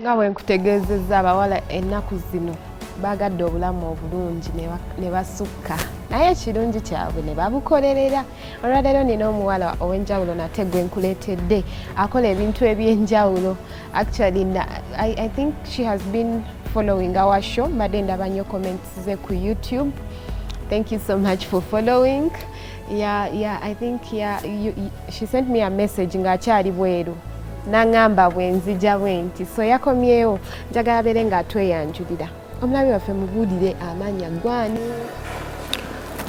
nga bwe nkutegeezezza abawala ennaku zino baagadde obulamu obulungi ne basukka naye ekirungi kyabwe ne babukolerera olwaleero nina omuwala ow'enjawulo nate gwe nkuleetedde akola ebintu eby'enjawulo actually I, i think she has been following our show mbadde ndaba nnyo comments ze ku youtube thank you so much for following yeah, yeah, I think yeah, you, you, she sent me a message ng'akyali bweru nangamba bwenzija bwenti so yakomyewo njagala bere nga tweyanjulira omulabi waffe mubulire amanya gwani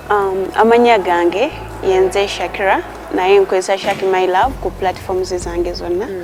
um, amanya gange yenze shakira naye nkozesa shaki my love ku platforms zange zonna mm.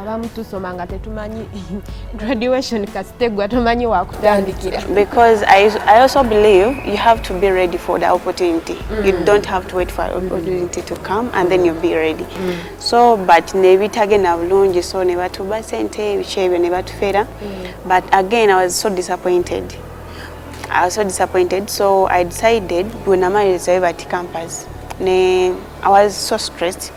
abamu tusoma nga tetumanyi graduation kasitegwa tomanyi wakutandikira because I, i also believe you have to be ready for the opportunity mm. you don't have to wait for opportunity to come and then you'll be ready mm. so but nebitagenda bulungi so nebatuba sente ebiki ebyo nebatufera mm. but again i was so disappointed i was so disappointed so i decided bwenamalizayo bati campus ne i was so stressed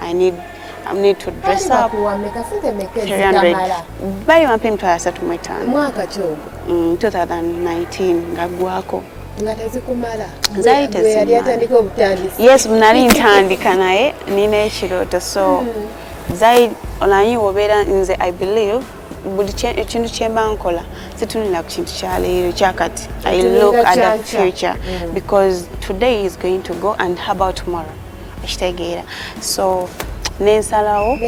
I need I need to dress up. Bali wampa emitwalo asatu mu etaano. Mwaka ki ogwo? 2019 mm, nga ggwako. Nga tezikumala. Zaali tezikumala. Yes, nali ntandika naye nina ekirooto so hmm. zaali olanyi wobeera nze I believe buli ekintu kyemba nkola situnulira ku kintu kyaleero kyakati i look at the future mm. because today is going to go and how about tomorrow okitegeera so nensalawo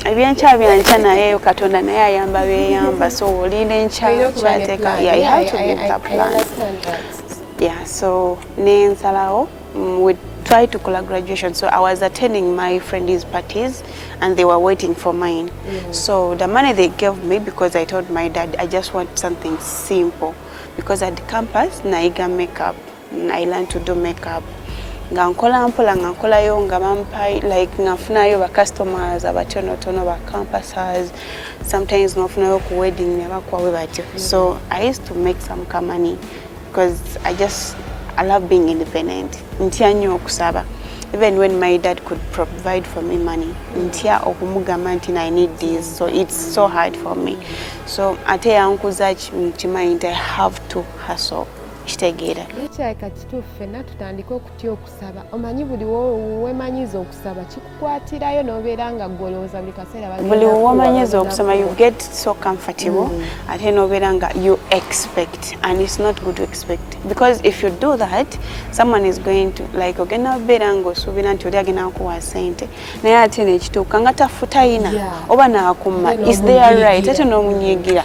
ebyenkya byankya naye katonda naye ayamba beyamba so olinda enkya kyateka yeah so nensalawo mm, we try to kola graduation so i was attending my friend's parties and they were waiting for mine mm. so the money they gave me because i told my dad i just want something simple because at the campus naiga makeup I learned to do makeup nga nkola mpola nga nkolayo nga bampa like nga nfunayo ba customers abatonotono ba campuses sometimes nofunayo ku wedding ne bakwawe batyo so i used to make some ka money because i just i love being independent ntya nnyo okusaba even when my dad could provide for me money ntya okumugamba nti i need this so it's so hard for me so ate yankuza kimanyi nti i have to hustle kitegeera nekyayika kituufu fenna tutandike okutya okusaba omanyi buli wemanyiza okusaba kikukwatirayo nobeera nga golowooza buli kaseera buli wemanyiza okusoma you get so comfortable mm. ate nobeera nga you expect and it's not good to expect because if you do that someone is going to like ogenda obeera nga osuubira nti oli agenda kukuwa sente naye ate nekituuka nga tafutayina oba nakumma is there right ate nomunyigira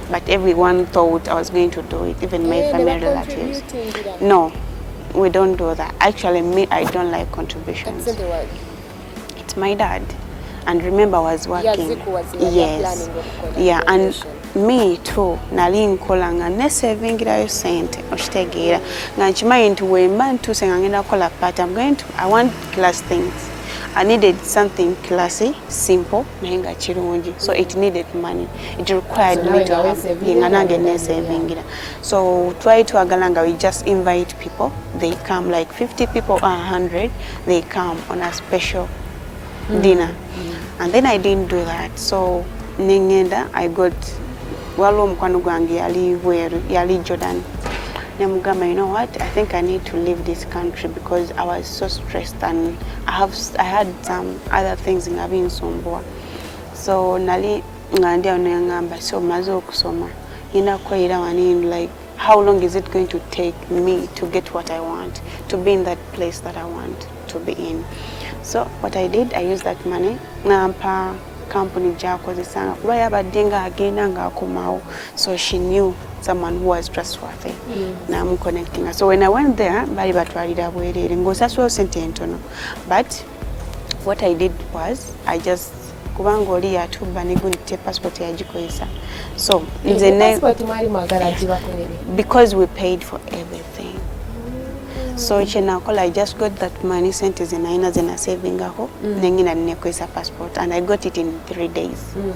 But everyone thought I was going to do it, even my yeah, family relatives. No, we don't do that. Actually, me, I don't like contributions. It's my dad. And remember, I was working. Yes. Yeah, and me too nali nkola nga nesevingilayo sente okitegeera nga nkimanyi nti wemba ntuuse nga ngenda kukola part am going to i want class things i needed something classy simple naye nga kirungi so it needed money it required so me to have saving and again ne saving it so try to agalanga we just invite people they come like 50 people or 100 they come on a special mm. dinner mm. and then i didn't do that so nengenda i got waliwo omukwano gwange yali bweru yali jordan nemugamba you know what i think i need to leave this country because i was so stressed and i, have, I had some other things nga binsumbuwa so nali nga ndi awo nengamba so maze okusoma ngenda kukolera wani like how long is it going to take me to get what i want to be in that place that i want to be in so what i did i used that money nampa kampuni gyakozesanga kuba yabadde nga agenda ngaakomawo so she knew someone who was trustworthy mm. namuconnectinga so when i went there bali batwalira bwereere ngaosasulawo sente entono but what i did was i just kubanga oli yatubba negunite passport yagikozesa so nze ne because we paid for everything so kyenakola i just got that money sente zenalina zenasavingako mm. nengina nenekozesa passport and i got it in three days mm.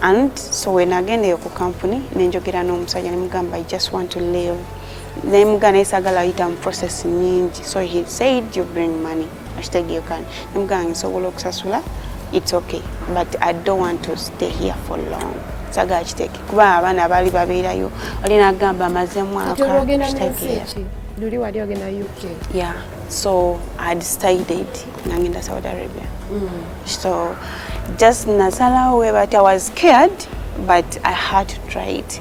and so wenagendeyo ku kampuni nenjogera n'omusajja nemugamba i just want to live naye mugana esagala ayita mu process nyingi so he said you bring money mm. kitegeekani nemugamba nga nsobola okusasula its okay but i don't want to stay here for long sagala kiteke kuba abaana baali babeerayo oli nagamba amaze mwaka luli wali ogenda uk yeah so i decided nangenda saudi arabia mm. so just nasalawo webatya was scared but i had to try it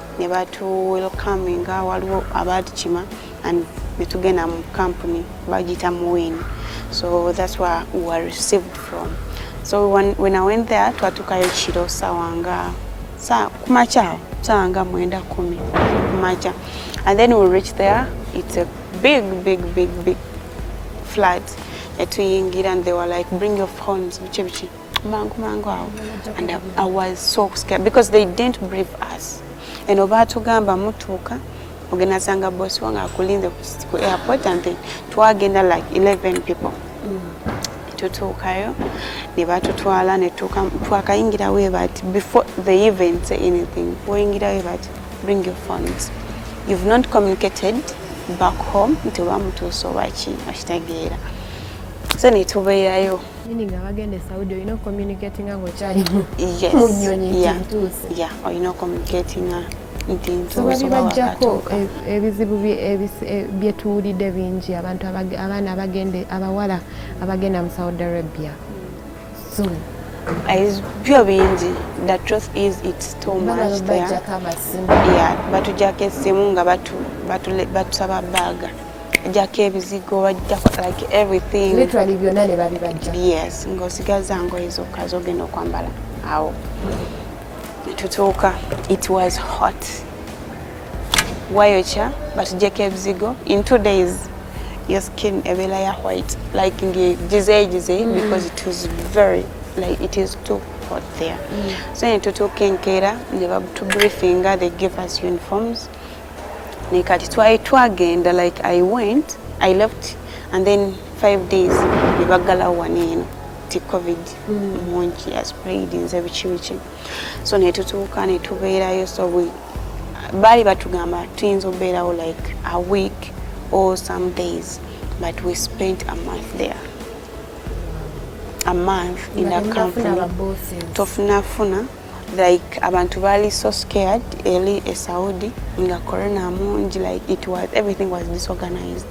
ne batu welcominga waliwo abaatukima and ne tugenda mu company bagiyita muwin so that's where we were received from so when, when i went there twatukayo kiro sawa nga sa kumakya sawa nga mwenda kumi kumakya and then we reach there it's a big big big big flat etuyingira and they were like bring your phones biki biki mangu mangu awo and I was so scared because they didn't brief us eno baatugamba mutuuka ogenda sanga boss wange akulinze ku airport and then twagenda like 11 people mm. tutuukayo ne batutwala netuuka twakayingirawo ebati before they even say anything oyingirawo ebati bring your phones you've not communicated back home nti oba mutuusa obaki okitegeera so netubeerayo Meaning abagenda e Saudi olina okucommunicatinga ng'okyali mu nnyonyi ntuuse. Ya, olina okucommunicatinga nti ntuuse oba wakatuuka. E, ebizibu e, bye tuwulidde bingi abantu abaana abagenda abawala abagenda mu Saudi Arabia. Soon. byo bingi the truth is it's too much there. Yeah, batujjako essimu nga batusaba baaga. jako ebizigo bajjako like everything literally byonna ne babibajja yes ng'osigaza ngoye zokka zogenda okwambala awo tutuuka it was hot wayokya batujjeko ebizigo in two days your skin ebeera ya white like ngigizeegize mm. because it was very like it is too hot there mm. so ne tutuuka enkeera ne batubriefinga they give us uniforms naye kati twali twagenda like i went i left and then five days nebaggalawo wano eno ti covid mungi aspraid nze biki biki so netutuuka netubeerayo so we baali batugamba tuyinza okubeerawo like a week or some days but we spent a month there a month in a company tofunafuna like abantu baali so scared eli e saudi nga corona mungi like it was everything was disorganized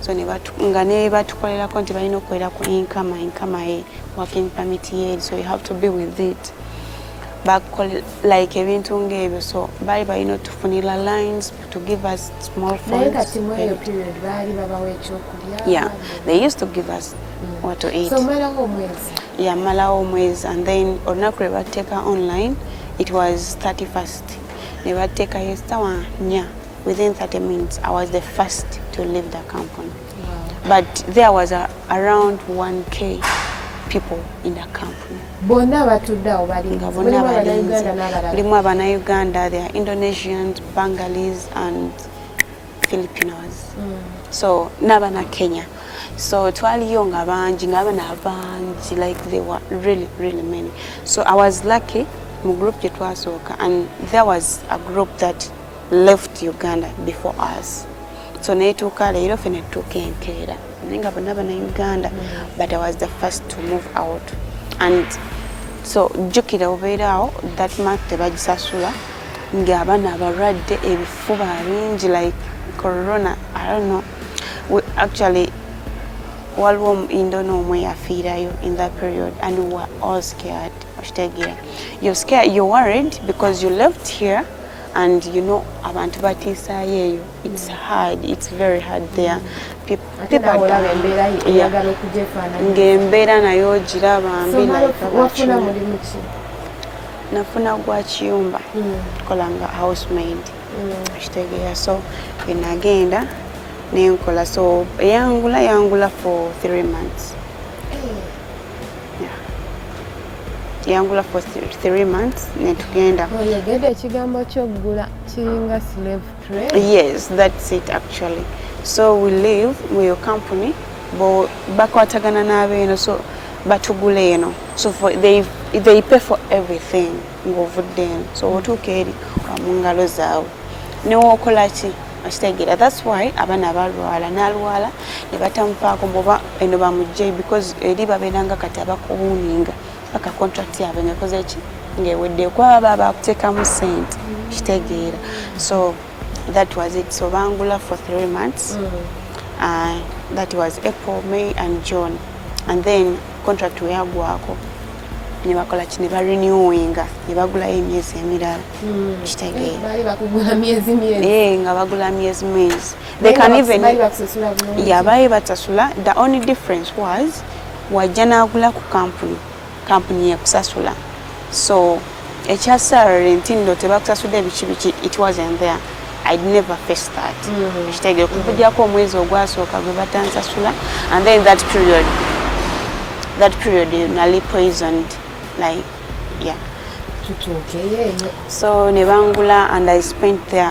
so nga ne batukolerako nti balina okukolera ku inkama inkama ye working permit ye so you have to be with it bakol like ebintu ngaebyo so baali balina otufunira lines to give us small yeah they used to give us mm. what to eat so, yamalawo omwezi and then olunaku lwe batteeka online it was 31st ne batteekayo essawa nya within 30 minutes i was the first to leave the company but there was a, around 1k people in the company bonna batudde awo balinga bonna balinzi mulimu abanauganda there indonesians bangalis and filipinos mm. so n'abana kenya so twaliyo nga bangi ng'abana abangi like they were really really many so i was lucky mu group gye twasooka and there was a group that left uganda before us so netuuka leero fe netuuka enkeera naye nga bonna bana uganda mm. but i was the first to move out and so jjukira obeeraawo that month tebagisasula ng'abana abalwadde ebifuba bingi like corona i don't know we actually waliwo indono omwe yafiirayo in that period and we were all scared okitegeera you're scared you're worried because you left here and you know abantu batiisaayo eyo It's hard. It's very hard there. Ng'embeera nayo ogiraba mbi nafuna gwa kiyumba hmm. kola nga housemaid hmm. kitegeera so enagenda nenkola so eyangula yangula for three months yangula for three months netugenda oyegede ekigambo kyokugula kiringa slave Really? Yes, that's it actually. So we live with your company, but bakwatagana n'abeeno so batugula eno so for, they, they pay for everything ng'ovudde eno so otuuka eri wa mu ngalo zaabwe newookola ki okitegeera thats why abaana balwala nalwala ne batamupaako muba eno bamugjeyi because eri babeeranga kati abakuwuninga paka contract yaabwe ngaekoze ki ngaewedde kwaba bakuteekamu sente kitegeera so that was it so bangula for three months mm. uh, that was april may and june and then contract weyagwako nebakola ki nebarenewinga nebagulayo emyezi emirala hmm. kitegeerae nga bagula myezi mwezi baali batasula the only difference was wajja n'agula ku kampuni kampuni yekusasula so ekya salary nti nno tebakusasudde ebiki biki it wasn't there i never face that mm-hmm. ekitegere kukujako omwezi ogwasooka gwe batansasula and then that period that period nali poisoned like yeah so ne bangula and i spent there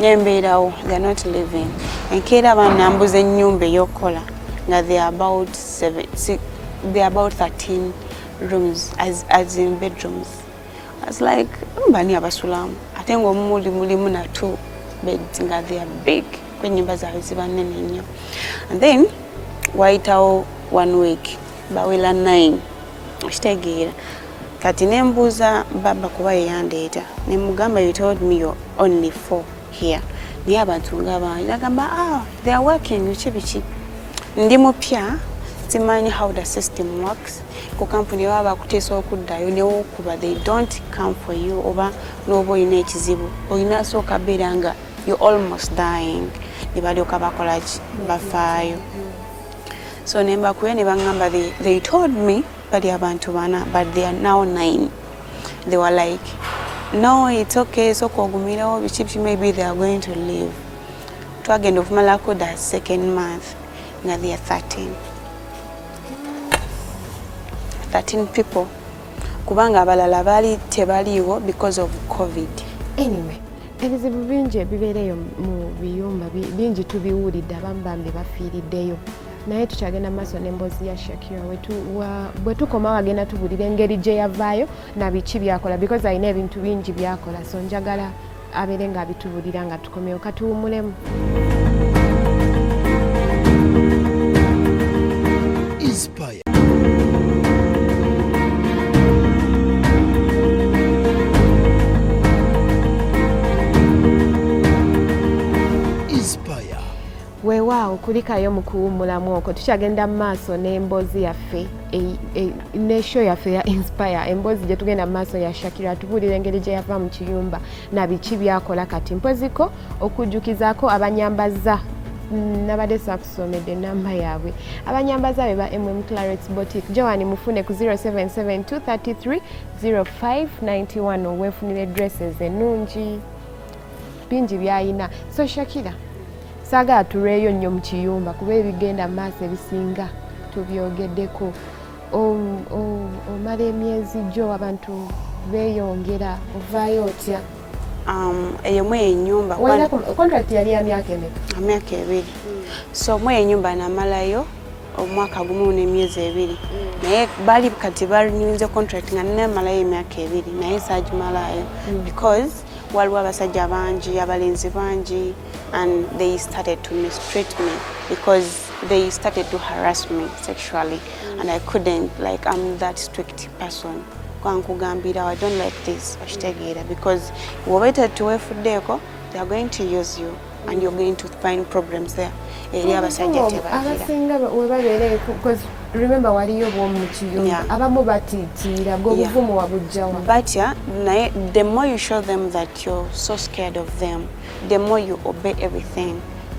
nembeerawo they're not living enkeera banambuza enyumba eyokukola nga they about seven, six, they about 13 rooms as, as in bedrooms as like mbani abasulamu ate ngaomumuli mulimu na two beds nga they are big kwenyumba zaabwe ziba nene nnyo and then wayitawo one week bawela 9 okitegeera kati nembuuza baba kuba yeyandeeta nemugamba you told me your only four here naye abantu nga bangi nagamba ah, they are working biki biki ndi mupya simanyi how the system works ku kampuni baba bakuteesa okuddayo newokuba they don't come for you oba nooba olina ekizibu olina asooka beera nga you almost dying ne balyoka bakolaki bafaayo so nembakuye nebangamba they, they told me bali abantu bana but they are now nine they were like no it's okay soka ogumirawo biki biki maybe they are going to live twagenda okumalako the second month nga they are 13 13 people kubanga abalala baali tebaliiwo because of covid anyway ebizibu bingi ebibeereyo mu biyumba bingi tubiwulidde abamu bambi bafiiriddeyo naye tukyagenda maaso n'emboozi ya shakira bwe tukoma wagenda tubulira engeri gye yavaayo nabiki byakola because alina ebintu bingi byakola so njagala abeere nga abitubulira nga tukomewo katuwumulemu weewaawo kulikayo mu kuwummulamu okwo tukyagenda mu maaso n'emboozi yaffe e, e, ne show yaffe ya inspire emboozi gye tugenda mu maaso ya shakira atubuulira engeri gye yava mu kiyumba na biki byakola kati mpoziko okujjukizaako abanyambazza mm, nabadde somedde enamba yaabwe abanyambaza be ba mm clarets botic joan mufune ku 0772330591 owefunire dresses ennungi bingi byayina so shakira saagala tulweyo nnyo mu kiyumba kuba ebigenda mu maaso ebisinga tubyogeddeko omala emyezi gyo abantu beeyongera ovaayo otya um, eyo mwe enyumba contract yali ya myaka emeka myaka ebiri so mwe enyumba namalayo omwaka gumu n'emyezi ebiri naye bali kati barinyuinze contract nga namalayo emyaka ebiri naye saagimalayo mm. because waliwo abasajja bangi abalenzi bangi and they started to mistreat me because they started to harass me sexually mm. and i couldn't like i'm that strict person kankugambira i don't like this okitegeera because wobaita tuwefuddeeko theyare going to use you and you're going to find problems there eri abasajja tebaabasinga webabeere because remember waliyo bwomu mukiyumba abamu batitiira gwobuvumu wabujjawa batya naye the more you show them that you're so scared of them the more you obey everything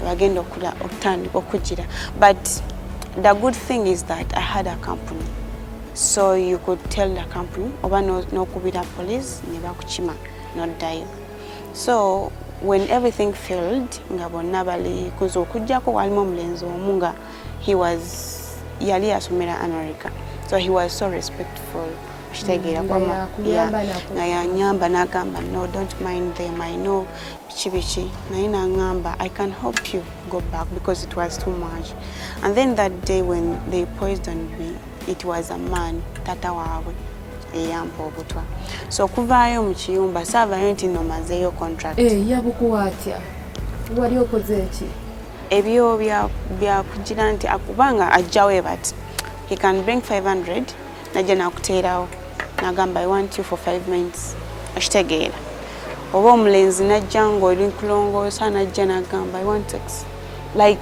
bagenda okula okutandika okugira but the good thing is that i had a company so you could tell the company oba nokubira police ne bakukima noddayo so when everything failed nga bonna bali kuza okujjako walimu omulenzi omu nga he was yali asomera america so he was so respectful okitegeera nga yanyamba nagamba no don't mind them i know biki biki naye nangamba i can help you go back because it was too much and then that day when they poisoned me it was a man tata waabwe eyampa obutwa so okuvaayo mu kiyumba saavayo nti no mazeeyo contract eh, yabukuwa atya wali okoze eki ebyo byakugira nti akubanga ajjawe but he can bring 500 najja nakuteerawo nagamba i want you for 5 minutes okitegeera oba omulenzi najja ngaoli nkulongoosa najja nagamba i want sex like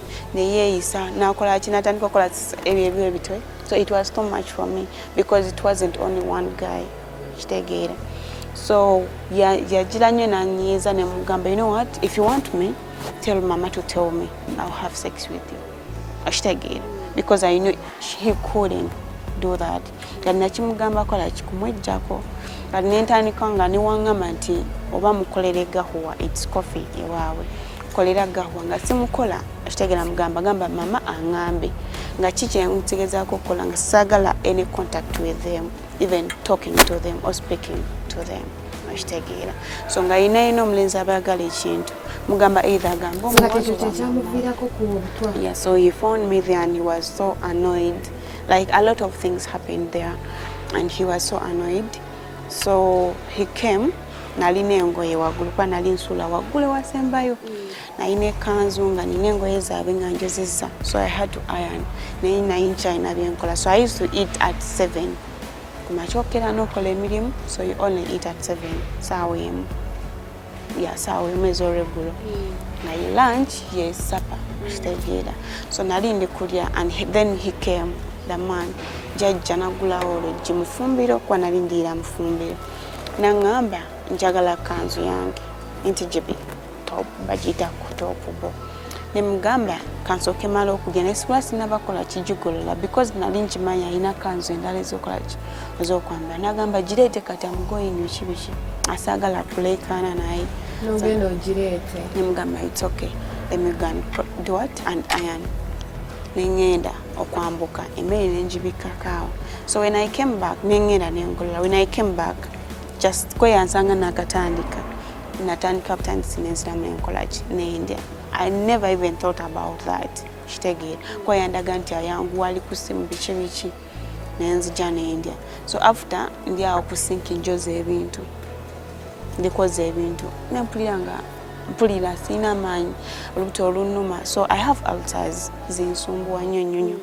neyeeyisa nakola ki natandika okukola ebyo ebyo ebitwe so it was too much for me because it wasn't only one guy kitegeera so yagira nnyo nanyiiza nemugamba you know what if you want me tell mama to tell me ill have sex with you okitegeera because i knew he couldn't do that kati nakimugamba kola kikumwejjako kati nentandika nga newangamba nti oba mukolere gahuwa its coffee ewaabwe kolera gahuwa nga simukola akitegera mugamba gamba mama angambe nga kikyentegezaako okukola nga saagala any contact with them even talking to them or speaking to them okitegeera so nga yina yina omulenzi abayagala ekintu mugamba either agamba omuwazi so he phoned me there and he was so annoyed Like a lot of things happened there and he was so annoyed. So he came nalina engoye waggulu kuba nali nsuula waggulu ewasembayo nalina ekanzu nga nina engoye zaabwe nga njozizza so i had to iron naye naye nkyalina byenkola so i used to eat at seven kumakyokera nokola emirimu so you only eat at seven saawa emu yasaawa emu ez'olweggulo naye lunch ye supper kitegeera so nali ndi kulya and then he came the man jajja nagulawo oluggi mufumbiro kuba nali ndiira mufumbiro naŋŋamba njagala kanzu yange nti gyebi top bagiyita ku top bo ne mugamba kansooke mala okulya naye sibula sinabakola kijigolola because nali nkimanyi alina kanzu endala ezokola ki ezokwambala nagamba gireete kati amugoyinyo kibiki asaagala kuleekaana naye nogenda ogireete ne mugamba it's okay emigan do what and iron nengenda okwambuka emmere nengibikkakaawo so when i came back nengenda nengolola when i came back just kweyansanga nakatandika natandika obutandisi nensiramu nenkolaki nendya i never even thought about that kitegeera kuba yandaga nti ayanguwa ali ku simu biki biki nenzija nendya so after ndi awo ku sinki njoza ebintu ndikoza ebintu nempulira nga mpulira sirina amaanyi olubuto olunuma so i have alters zinsumbuwa nnyo nnyo nnyo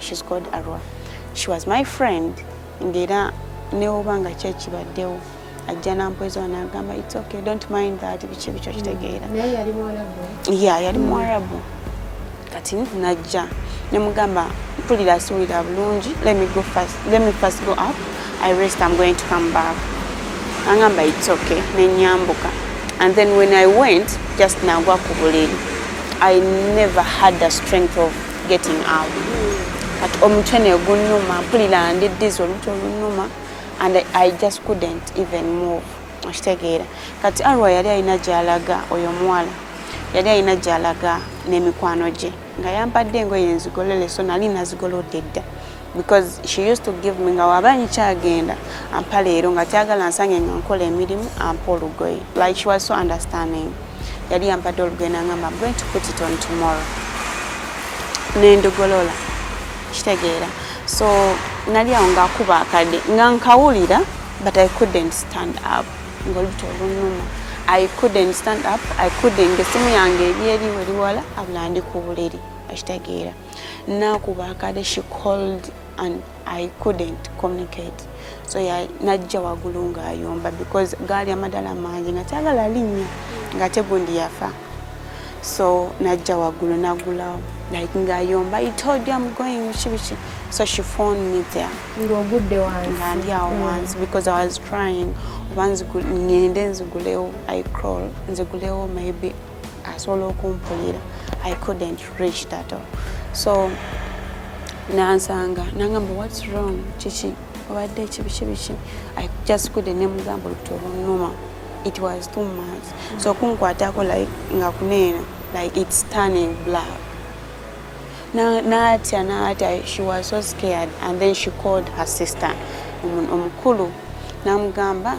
she's called Arwa she was my friend ngera newoba nga kyekibaddewo ajja nampwezoa nagamba its okay don't mind that biki bikyo kitegeera mm. ya yali muwarabu mm. kati najja nemugamba mpulira siwulira bulungi let me go first let me first go up i rest i'm going to come back angamba its okay nenyambuka and then when i went just nagwa ku buliri i never had the strength of getting out but omutwe negunnuma mpulira ndi dizi olutwe olunnuma and i just couldn't even move okitegeera kati arwa yali alina gyalaga oyo omuwala yali alina gyalaga n'emikwano gye nga yampadde engoye enzigolole so nali nazigolodde dda because she used to give me nga waba nkyagenda ampa leero nga tyagala nsange nga nkola emirimu ampa olugoye like she was so understanding yali yampadde olugoye nangamba am going to put it on tomorrow nendugolola kitegeera so nali awo ngaakuba akadde nga nkawulira but i couldn't stand up ngaolubuto olunuma i couldn't stand up i couldn't esimu yange eri eri weriwala abula ndi ku buliri akitegeera nakuba akade she called and i couldn't communicate so najja wagulu nga ayomba because gaali amadala mangi nga tagala linya nga tegundi yafa so najja wagulu nagulawo like nga ayomba i told you i'm going bikibiki so she phoned me there ngogudde wansi nga ndi awo mm. wansi because i was trying oba ngende nzigulewo i crawl nzigulewo maybe asobola okumpulira i couldn't reach that all so nansanga nangamba whats wrong kiki obadde kibiki biki i just couldn't nemugamba olubuto olunuma it was too much so kunkwatako like nga kuneena like it's turning black natya natya she was so scared and then she called her sister omukulu namugamba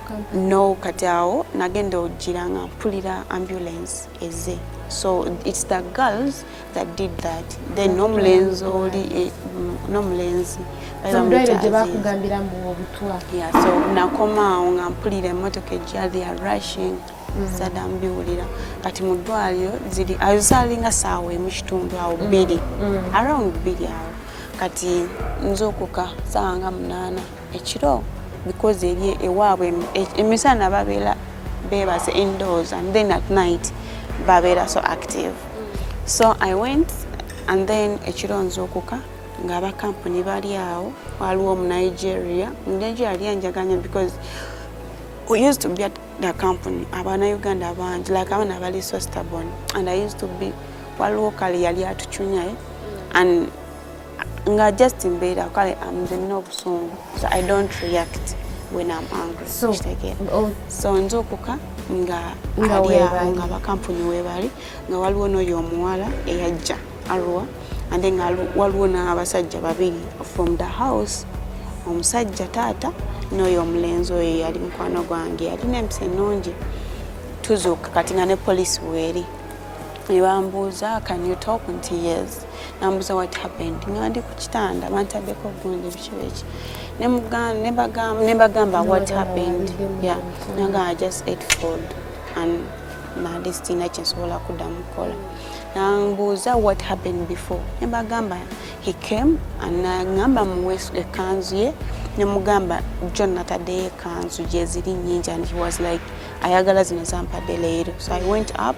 no kati awo nagenda ojjira nga mpulira ambulance eze so its the girls that did that then nomulenzi oli eh, nomulenzi so nakomaawo nga mpulira emotoka ejja the are rushing mm. sada mbiwulira kati mu ddwaliro ziri azalinga saawa emu kitundu awo mm. bbiri mm. around bbiri awo kati nzuukuka saawa nga munaana ekiro because eri ewaabwe emisana babeera bebaze indoors and then at night babeera so active so i went and then ekiro nzuukuka nga abakampuni bali awo waliwo omunigeria omunigeria yali anjaganya because we used to be at the company abana uganda bangi like abana bali so stubborn and i used to be waliwo kale yali atucunyaye and nga just mbeera kale amulina obusungu so i don't react when am angry so, oh. so nze okuka nga aliawo nga bakampuni webali nga waliwo noyo omuwala eyajja arua and then waliwo n'abasajja babiri from the house omusajja taata noyo omulenzi oyo yali mukwano gwange yalina empisa ennungi tuzuuka kati nga ne polisi weeri nebambuuza can you talk nti yes nambuza what happened nga ndi ku kitanda bantaddeko gundi bikibeeki nebagamba what happened ya nanga i just ate food and mali sirina kyensobola kuddamu kukola nambuuza what happened before nebagamba he came anagamba muwe ekanzu ye nemugamba john nataddeyo ekanzu gyeziri nyingi and he was like ayagala zino zampadde leero so i went up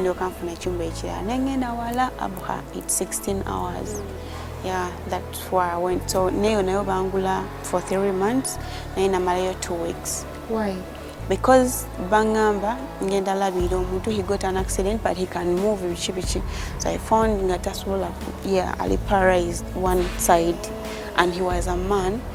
ndoka nfuna ekyumba ekirala naye ngenda wala abha it 16 hours yeah that why i went so nayo nayo bangula for three months naye namalayo two weeks why because bangamba ngenda labira omuntu he got an accident but he can move biki biki so i found nga tasobola yeah ali paralyzed one side and he was a man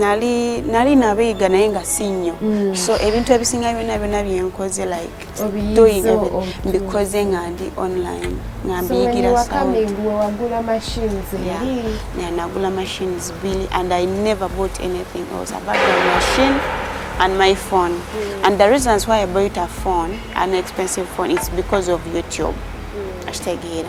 nali nali nabiyiga naye nga si nnyo mm. so ebintu ebisinga byona byona byenkoze like doing mbikoze nga ndi online nga mbiyigira nagula machines bili and i never bought anything else about the machine and my phone mm. and the reasons why i bought a phone an expensive phone it's because of youtube mm. ashtegera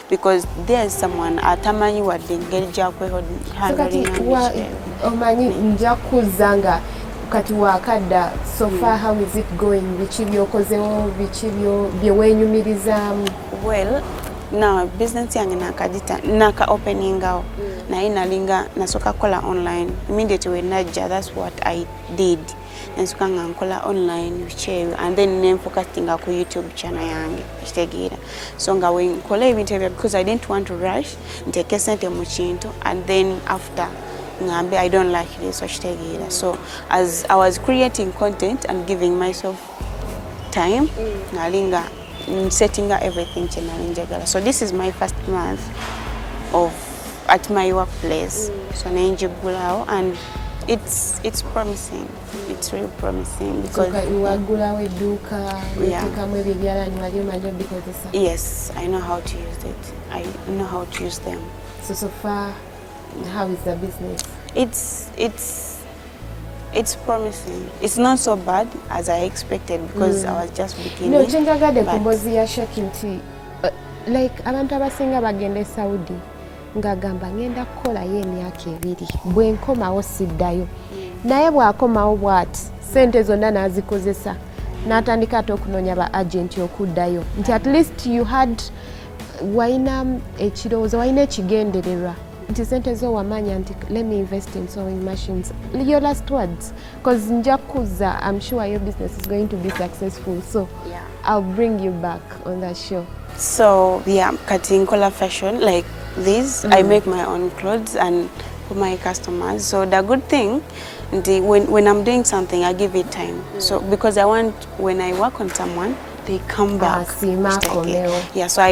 because there is someone atamanyi wadde engeri gyakwehoomanyi nja kuzza nga kati wakadda sofa hmm. how is it going biki byokozewo biki byeweenyumirizaamu well na business yange nakagita naka openingawo hmm. naye nalinga nasoka kukola online immediately wenajja that's what i did nensuka nga nkola online bikyeyo and then nenfokasinga ku youtube channel yange ekitegeera so nga wenkola ebintu ebyo because i didn't want to rush nteeke sente mu kintu and then after ngambe i don't like this okitegeera so as i was creating content and giving myself time mm. nali nga mm, setting up everything chenali njagala so this is my first month of at my workplace mm. so nenjigulawo and it's it's promising it's really promising because wagulawo edduuka otekamu ebyo ebyalani wali omanyi obikozesa yes i know how to use it i know how to use them so so far how is the business it's it's It's promising. It's not so bad as I expected because mm. I was just beginning. No, kyenjagadde ku mbozi ya Shaki nti uh, like abantu abasinga bagenda e Saudi ng'agamba ngenda kukolayo emyaka ebiri bwe nkomawo siddayo mm. naye bw'akomawo bw'ati sente zonna n'azikozesa n'atandika ate okunoonya ba agenti okuddayo nti at least you had walina ekirowoozo walina ekigendererwa nti sente zo wamanya nti let me invest in sewing machines your last words because nja kuza i'm sure your business is going to be successful so yeah. i'll bring you back on that show so yeah kati nkola fashion like this mm. i make my own clothes and for my customers so the good thing the, when, when i'm doing something i give it time mm. so because i want when i work on someone they come back ah, yeah so i